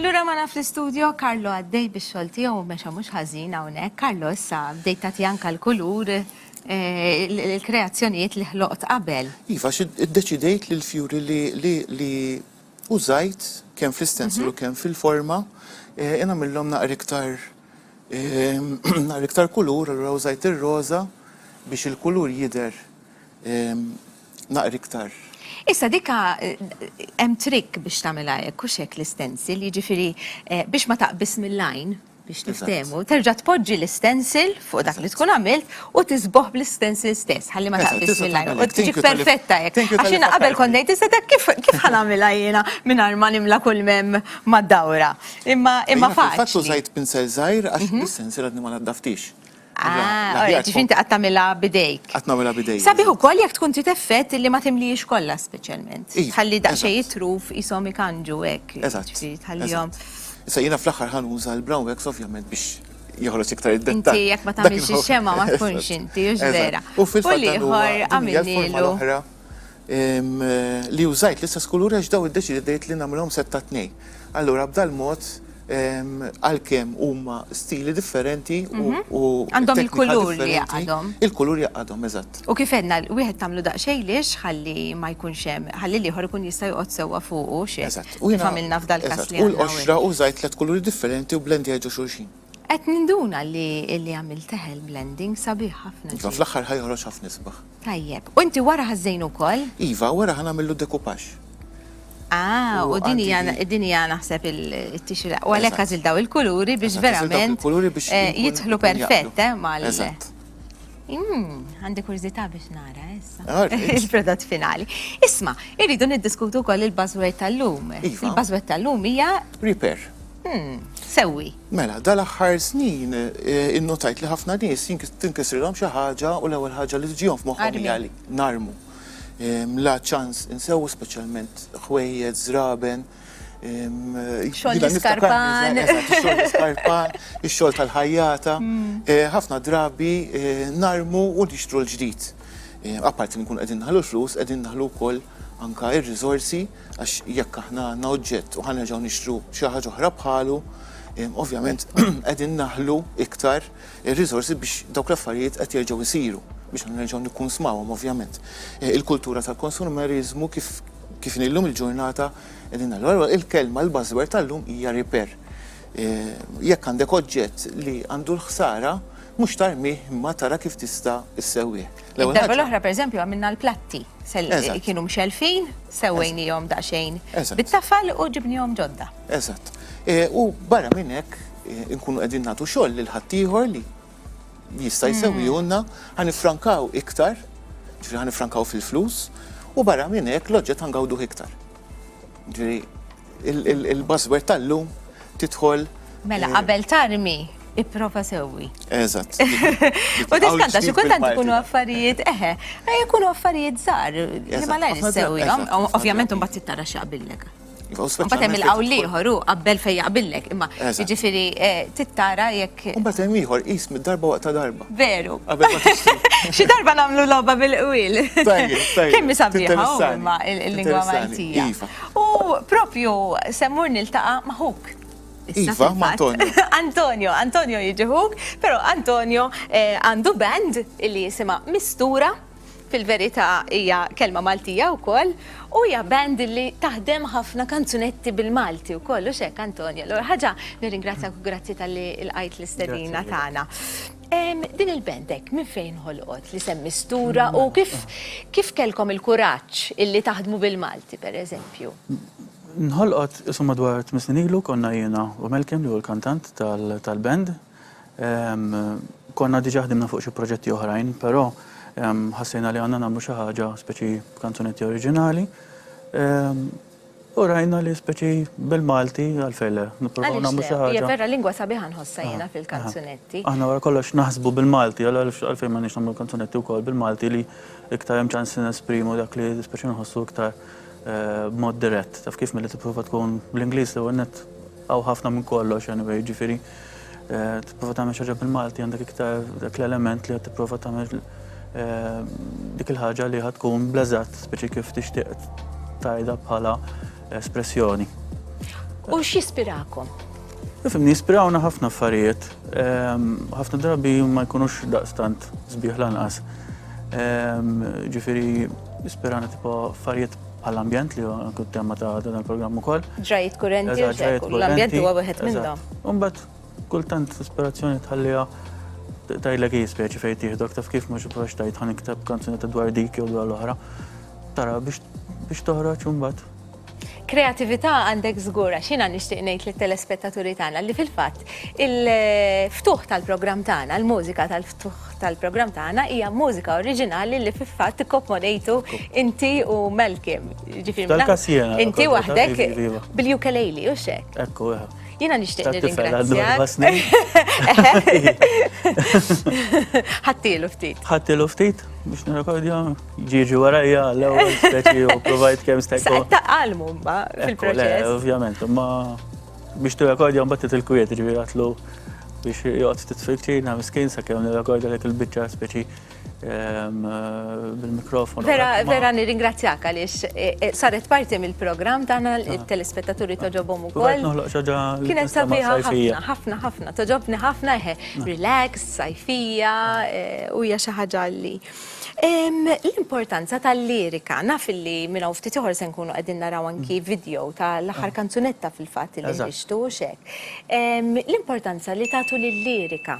Lura ma naf l-istudio, Karlo għaddej biex xolti u meċa mux ħazin għawnek. Karlo, issa, bdejt tati anka l-kulur, eh, l-kreazzjoniet li ħloqt qabel. Iva, id-deċidejt li l-fjuri li użajt kem fl-istenslu mhm. kem fil-forma, jena eh, millom naqriktar Nhar iktar kulur, allura użajt ir-roża biex il-kulur jidher naqra iktar. Issa dik hemm trick biex tagħmilha hekk hux hekk l-istencil, jiġifieri biex ma taqbiż mill-għajn biex niftehmu, terġa' tpoġġi l-istencil fuq dak li tkun għamilt u tiżbogħ bl-istencil stess ħalli ma taqbiżx mill-għajn u tiġi perfetta hekk. Għax jiena qabel kont ngħid iżda dak kif ħa nagħmilha jiena mingħajr ma nimla kull m'hemm mad-dawra. Imma imma faċli. Fil-fatt użajt pinsel żgħir għax is-sensier għadni ma naddaftix. Ah, ġifi inti qatt tagħmilha bidejk. Qatt nagħmilha bidejk. Sabiħ ukoll jekk tkun trid effett li ma timlihiex kollha speċjalment. Tħalli daqsxejn jitruf qishom ikanġu hekk. Eżatt. Tħallihom. Issa jiena fl-aħħar ħa nuża l-brown wax ovvjament biex joħroġ iktar id-dettall. Inti jekk ma tagħmilx ix-xemgħa ma tkunx inti, hux vera. U fil-fatt ieħor għamilnilu. li użajt l-istess kulur għax dawn iddeċidejt li nagħmilhom sett ta' tnejn. Allura b'dal mod għalkemm huma stili differenti u għandhom il-kulur li jaqadhom. Il-kulur jaqadhom, eżatt. U kif għedna, wieħed tagħmlu daqsxejn lix ħalli ma jkunx hemm, ħalli l-ieħor ikun jista' joqgħod sewwa fuqu xi. Eżatt. Kif għamilna f'dal-każ li għandna hawn. U l-qoxra użajt tliet kuluri differenti u blendejt ġo xulxin. Qed ninduna li li għamilt teħel blending sabiħ ħafna. Iva, fl-aħħar ħajħroġ ħafna isbaħ. Tajjeb. U inti wara ħażżejnu wkoll? Iva, wara ħanamillu decoupage. Ah, u din hija din hija naħseb it-tixri. U għalhekk għażil daw il-kuluri biex verament eh, jidħlu perfett eh, mal. Hmm, għandi kurżità biex nara eh, issa. Ah, Il-prodott finali. Isma, irridu niddiskutu wkoll il-buzzword tal-lum. Iva. Il-buzzword tal-lum hija. Repair. Hmm, sewwi. Mela, dal-aħħar snin eh, innotajt li ħafna nies tinkisrilhom xi ħaġa u l-ewwel ħaġa li tiġihom f'moħħhom hija li narmu. Ehm, la ċans insewu speċjalment ħwejjed, żraben. Ehm, xogħol l-iskarpan. Xogħol l-iskarpan, ix-xogħol tal-ħajjata. Hmm. Eh, ħafna drabi eh, narmu u nixtru l-ġdid. Apparti li nkun qegħdin naħlu l-flus, qegħdin naħlu wkoll anka ir-riżorsi Għax jekk aħna għandna oġġett u ħa nerġgħu nixtru xi ħaġa oħra bħalu, ovvjament qegħdin naħlu iktar ir-riżorsi biex dawk l-affarijiet qed jerġgħu jsiru, biex aħna nerġgħu nikkunsmawhom ovvjament. Il-kultura tal-konsumeriżmu kif kif inhi llum il-ġurnata qegħdin naħlu. Allura il-kelma l-buzzword tal-lum hija repair. Jekk għandek oġġett li għandu l-ħsara, mhux tarmih imma tara kif tista' issewwih. Id-darba l-oħra pereżempju għamilna l-platti. Kienu mxelfin, sewwejnihom daqsxejn bit-tafal u ġibnihom ġodda. Eżatt. E, u barra minn hekk e, inkunu qegħdin nagħtu xogħol lil ħaddieħor li jista' jsewwihulna, mm. ħan ifrankaw iktar, ġifieri ħan ifrankaw fil-flus, u barra minn hekk l-oġġett ħangawduh iktar. Ġiri, il-buzzword tal-lum titħol. Mela, eh, qabel tarmi, iprofa sewwi. Eżatt. U diskanta, xi kultant ikunu affarijiet, eħe, eh, jkunu affarijiet żgħar li ma lajn sewwi. Ovvjament imbagħad tittara x'aqbillek. Mbagħad hemm il-qawl ieħor hu qabel fejn jaqbillek, imma jiġifieri eh, tittara jekk. Mbagħad hemm ieħor qis mid-darba waqta darba. Veru. Xi darba nagħmlu logħba bil-qwil. Kemm hi sabiħa huma l-lingwa Maltija. Iva. U propju semmur niltaqa' ma' ħuk. Iva, ma' Antonio. Antonio, Antonio jiġi ħuk, però Antonio eh, għandu band li jisimha Mistura. Fil-verità hija kelma Maltija wkoll u hija band li taħdem ħafna kanzunetti bil-Malti wkoll, hux hekk Antonio? Allura ħaġa nirringrazzjak u grazzi talli lqajt l-istedina tagħna. Din il-band hekk minn fejn ħolqot li se mistura u kif kellkom il-kuraġġ illi taħdmu bil-Malti pereżempju? Nħolqot, insomma, dwar tmien snin ilu, konna jiena u Malcolm li hu l-kantant tal-band, Konna diġà ħdimna fuq xi proġetti oħrajn, però ħassejna li għandna nagħmlu xi ħaġa speċi kanzunetti oriġinali. U rajna li speċi bil-Malti għalfejn le, nippruvaw nagħmlu xi ħaġa. Hija vera lingwa sabiħa nħossha jiena fil-kanzunetti. Aħna wara kollox naħsbu bil-Malti, allura għalfejn m'għandniex nagħmlu kanzunetti wkoll bil-Malti li iktar hemm ċans li nesprimu dak li speċi nħossu iktar b'mod dirett. Taf kif milli tipprova tkun bl-Ingliż l-ewwel nett hawn ħafna minn kollox anyway, jiġifieri. tipprova tagħmel xi ħaġa bil-Malti għandek iktar dak l-element li qed tipprova tagħmel eh, dik il-ħaġa li ħad tkun blażat speċi kif tixtieq tajda bħala espressjoni. U x'jispirakom? Fimni, jispirawna ħafna affarijiet, ehm, ħafna drabi ma jkunux daqstant zbieħ lanqas. Ehm, ġifiri, jispirana tipo affarijiet Għall-ambjent li huwa kien tema ta' dan il-programm ukoll. Ġrajiet kurenti, Eżatt, ġrajiet eżatt, kurenti. l-ambjent huwa wieħed minn Eżatt. dawn. U mbagħad kultant l-ispirazzjoni tħalliha t- tgħidlek hi speċi fejn tieħdok taf kif mhux provax tgħid ħa nikteb kanzunetta dwar dik jew dwar l-oħra. Tara biex biex toħroġ u mbagħad Kreatività għandek żgur għax jiena nixtieq ngħid lit-telespettaturi tagħna li fil-fatt il-ftuħ tal-programm tagħna, l-mużika tal-ftuħ tal-programm tagħna hija mużika oriġinali li fil-fatt ikkomponejtu inti u Malcolm. Ġifieri Tal-każ jiena. Inti waħdek bil-ukulele u xek. Ekku, eħe. Jiena nixtieq nirringrazzjak. Ħattilu ftit. Ħattilu ftit biex nirrekordja ġiġi warajja l-ewwel speċi u provajt kemm stajt. Saqta qalmu ma fil-proċess. Ovvjament, ma Biex tirrekordja mbagħad titilkwiet, ġifieri għatlu biex joqgħod ftit fil-ċina miskin sakemm nirrekordja dik il-biċċa speċi ehm, bil-mikrofon. Vera, vera nirringrazzjak għaliex e, e, saret parti mill-programm tagħna ah. il-telespettaturi toġobhom ukoll. Kienet sabiħa ħafna, ħafna, ħafna, toġobni ħafna eħe, ah. relax, sajfija ah. e, u hija xi ħaġa li L-importanza tal-lirika, naf li minn hawn ftit ieħor se nkunu qegħdin naraw anki video ta' l-aħħar kanzunetta fil-fatt li ħriġtu u x'hekk. L-importanza li tagħtu lil-lirika.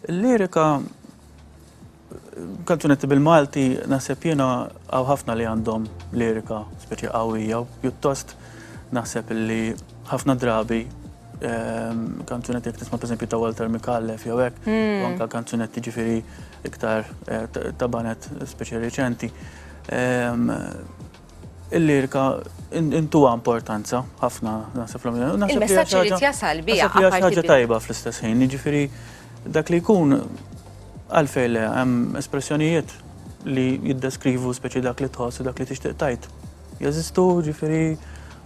Il-lirika, kanzunetti bil-Malti naħseb jiena hawn ħafna li għandhom lirika speċi qawwija u pjuttost naħseb li ħafna drabi, ehm, kanzunetti jek tisma' pereżempju ta' Walter Mikallef jew hekk, hmm. anka kanzunetti ġifieri iktar eh, ta' banet speċi reċenti. Ehm, il-lirika intuwa importanza ħafna nasib l-għamil. Il-messagġi li t-jasal bija. Nasib li ħaġa tajba fl-istess ħin, ġifiri dak li jkun għalfej le hemm espressjonijiet li jiddeskrivu speċi dak li tħoss dak li tixtieq tajt. jeżistu, jiġifieri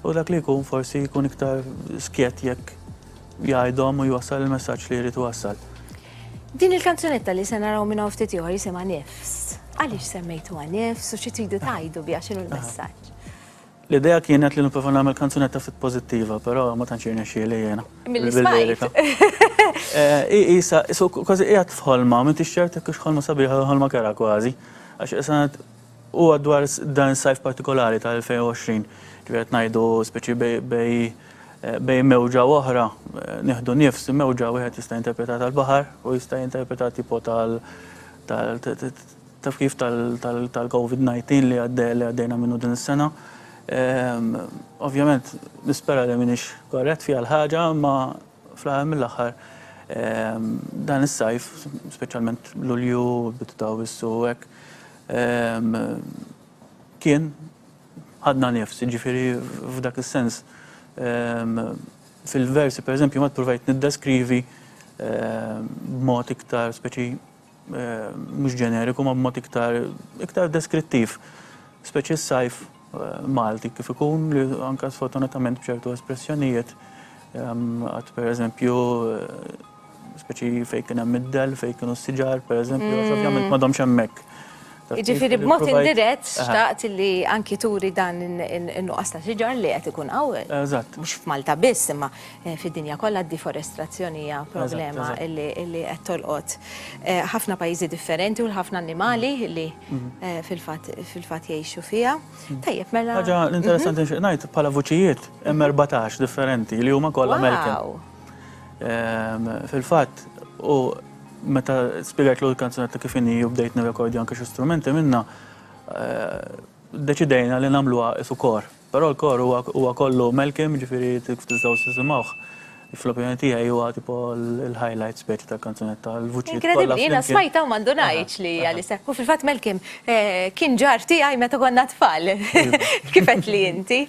u dak li jkun forsi jkun iktar skjett jekk jgħidhom u jwassal il-messaġġ li jrid iwassal. Din il-kanzunetta li se naraw minn hawn ftit ieħor jisimha Nifs. Għaliex semmejtuha Nifs u xi tridu tgħidu biha x'inhu l-messaġġ? L-idea kienet li nipprova nagħmel kanzunetta ftit pożittiva, però ma tantx irnexxieli jiena. Mill-ismajt. Isa, kważi qiegħed f'ħolma, m'intix ċert jekk hux ħolma sabiħa jew ħolma kera kważi. Għax Huwa dwar dan is-sajf partikolari ta' 2020, ġifieri qed ngħidu speċi bej bejn mewġa u oħra, nieħdu nifs, mewġa wieħed jista' jinterpretha tal-baħar u jista' jinterpreta tipo tal taf kif tal-Covid 19 li għaddejna minnu din is-sena. Ovvjament nispera li m'iniex korrett fiha l-ħaġa imma. Fl-aħħar mill-aħħar, dan is-sajf, speċjalment Lulju, bidu ta' Awwissu u hekk, kien ħadna nifs, jiġifieri f'dak is-sens fil-versi pereżempju ma ppruvajt niddeskrivi b'mod iktar speċi mhux ġeneriku ma b'mod iktar iktar deskrittiv, speċi s-sajf Malti kif ikun li anka sfortunatament b'ċertu espressjonijiet għad per eżempju speċi fejn kien hemm id-del, fejn kienu s-siġar, per eżempju, għax ovvjament madhom xemmek. Jiġifieri b'mod indirett xtaqt li anki turi dan in-nuqqas ta' siġar li qed ikun hawn. Eżatt. Mhux f'Malta biss, imma fid-dinja kollha d-deforestazzjoni hija problema li qed tolqot ħafna pajjiżi differenti u lil ħafna annimali li fil-fatt fil-fatt jgħixu fiha. Tajjeb, mela. Ħaġa interessanti nixtieq ngħid, bħala vuċijiet hemm erbatax differenti li huma kollha American. Wow! Fil-fatt, u meta spjegajt l kanzunetta kif inhi u bdejt nirrekordja anke xi strumenti minna, deċidejna li nagħmluha isu kor. Però l-kor huwa kollu Malcolm, ġifieri kif tistgħu tisimgħuh, fl-opinjoni tiegħi huwa tipo l-highlight speċi tal-kanzunetta. Inkredibli, jiena smajtha u ma ndunajtx li hija li sekk. U fil-fatt Malcolm Kien ġar tiegħi meta konna tfal, kif qed li inti.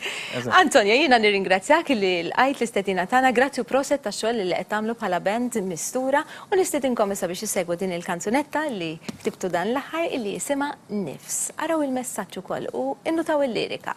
Antonio, jiena nirringrazzjak li lqajt l-istedina tagħna, grazzi u proset tax-xogħol li qed tagħmlu bħala band mistura u nistedinkom issa biex issegwu din il-kanzunetta li ktibtu dan l-aħħar illi jisimha Nifs. Araw il-messaġġ ukoll u innutaw il-lirika.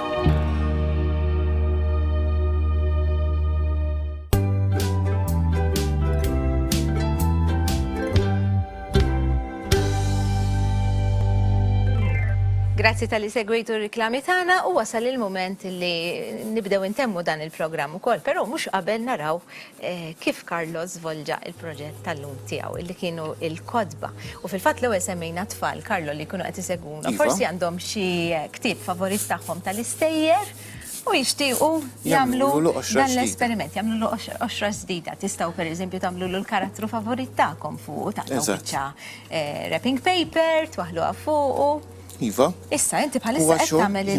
Grazzi tal-li segwitu r-reklami tagħna u wasal il-moment li nibdew intemmu dan il-programm ukoll, però mhux qabel naraw kif Carlo żvolġa l-proġett tal-lum tiegħu, li kienu l-kotba. U fil-fatt l-ewwel semmejna tfal Carlo li jkunu qed isegwuna, Iva. forsi għandhom xi ktieb favorit tagħhom tal-istejjer u jixtiequ jagħmlu Jagħmlulu l-qoxra dan ġdida. l-esperiment, jagħmlu l qoxra ġdida. Tistgħu pereżempju tagħmlu l-karattru favorit tagħkom fuq u taqtgħu Eżatt. biċċa eh, wrapping paper, twaħħluha fuqu. Iva. Issa, inti bħalissa qed tagħmel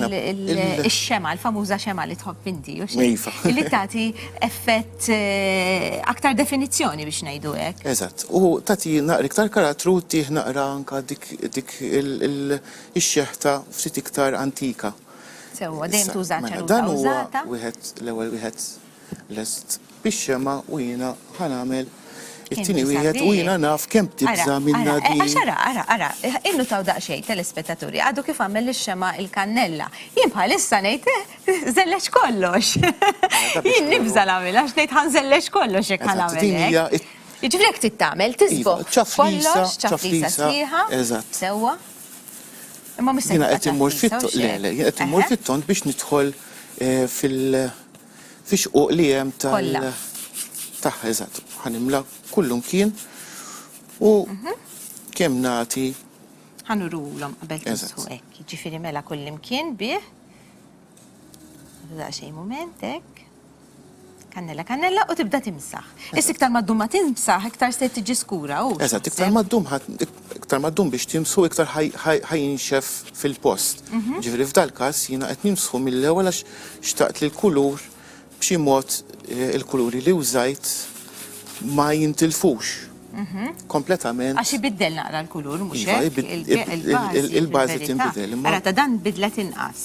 ix-xema, l-famuża xema li tħobb inti, u xi. Iva. Li tagħti effett eh, aktar definizzjoni biex ngħidu hekk. Eżatt. U tagħti naqra iktar karattru tih naqra anka dik dik ix-xeħta ftit iktar antika. Sewwa, dejjem tuża mela, ċellula użata. Wieħed l-ewwel wieħed lest bix-xemgħa u jiena ħa nagħmel it-tieni wieħed u jiena naf kemm tibża' minn Nadine. Għax ara, ara, ara, innutaw daqsxejn, telespettaturi, għadu kif għamel lix-xemgħa il-kannella. Jien bħalissa ngħid, żelleġ kollox. Jien nibża' nagħmilha għax ngħid ħa nżelleġ kollox jekk ħa nagħmel hekk. Jiġifieri hekk trid tagħmel, tiżbogħ kollox, ċaflisa sħiħa, sewwa. Imma mhux se. Jiena qed immur fit-tont, le, le, jiena qed immur fit-tont biex nidħol fil- fix-xquq li hemm tal- Kollha. Tagħha, eżatt. Ħa nimla kullumkien u kemm nagħti Ħa nurulhom qabel Eżatt. tisħu hekk. Jiġifieri mela kullimkien bih. Ħadu daqsxejn mument hekk. Kannella, kannella u tibda timsaħ. Issa iktar ma ddum ma timsaħ, iktar se tiġi skura, hux? Eżatt, iktar ma ddum ħadd Iktar ma ddum biex timsħu iktar ħa jinxef fil-post. Ġifieri f'dal-każ jiena qed nimsħu mill-ewwel għax xtaqt li l-kulur b'xi mod il-kuluri li użajt ma jintilfux kompletament. Għax ibiddel naqra l-kulur mhux hekk? Iva, il-bażi tinbidel. Ara ta' dan bidlet inqas.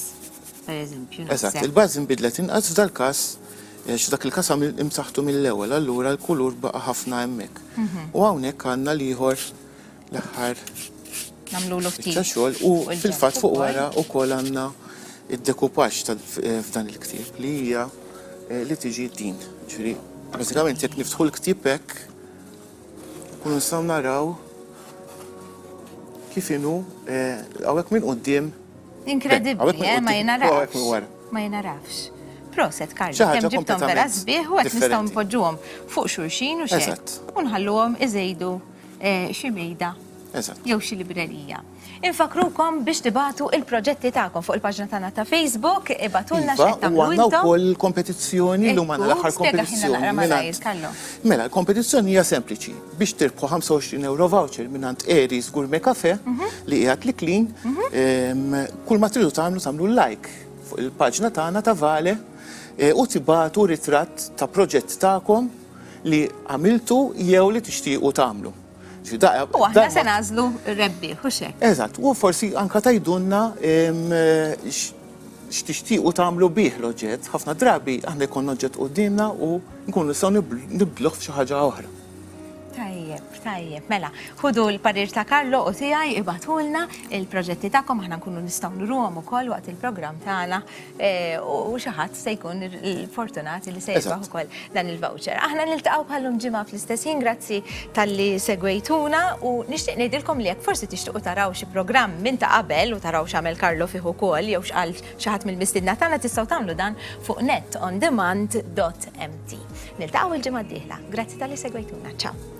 Eżatt, il-bażi nbidlet inqas f'dal-każ għax f'dak il-każ għamilt imsaħħtu mill-ewwel, allura l-kulur baqa' ħafna hemmhekk. U hawnhekk għandna l-ieħor l-aħħar biċċa xogħol u fil-fatt fuq wara wkoll għandna d-decoupage ta' f'dan il-ktieb li hija li tiġi din. Ġifieri, bażikament jekk niftħu l-ktieb hekk, Nkunu nistgħu naraw kif inhu hawnhekk minn quddiem. Inkredibbli, eh, ma jingħarafx. Ma jingħarafx. Proset, Karli, kemm ġibthom vera sbieħ u hekk nistgħu npoġġuhom fuq xulxin u xi. U nħalluhom iżejdu xi mejda jew xi librerija. Infakkrukom biex tibagħtu il-proġetti tagħkom fuq il-paġna tagħna ta' Facebook, ibagħtulna x'qed tagħmlu intom. Iva, u għandna wkoll il-kompetizzjoni li huma l-aħħar kompetizzjoni. Mela, l-kompetizzjoni hija sempliċi. Biex tirbħu 25 euro voucher minn għand Eri's Gourmet Cafe mhm. li hija tliklin, mhm. kull ma tridu tagħmlu tagħmlu like fuq il-paġna tagħna ta' Vale eh, u tibatu ritratt ta' proġett tagħkom li għamiltu jew li tixtiequ tagħmlu. U aħna se nażlu rebbi, u xek. Eżatt, u forsi anka tajdunna x'tixtiequ tagħmlu bih l-oġġett. Ħafna drabi aħna jkun oġġett qudiemna u nkunu nistgħu nibdluh f'xi ħaġa oħra. Tajjeb, tajjeb, mela, ħudu l-parir ta' Karlo u tiegħi ibatulna il-proġetti tagħkom aħna nkunu nistgħu nruhom ukoll waqt il-programm tagħna u xi ħadd se jkun fortunati li se jirbaħ ukoll dan il-voucher. Aħna niltaqgħu bħallum ġimgħa fl-istess jien grazzi talli segwejtuna u nixtieq ngħidilkom li jekk forsi tixtiequ taraw xi programm minn ta' qabel u taraw x'għamel Karlo fih ukoll jew x'qal xi ħadd mill-mistiedna tagħna tistgħu tagħmlu dan fuq netondemand.mt. Niltaqgħu l-ġimgħa d-dieħla. Grazzi talli segwejtuna. Ciao.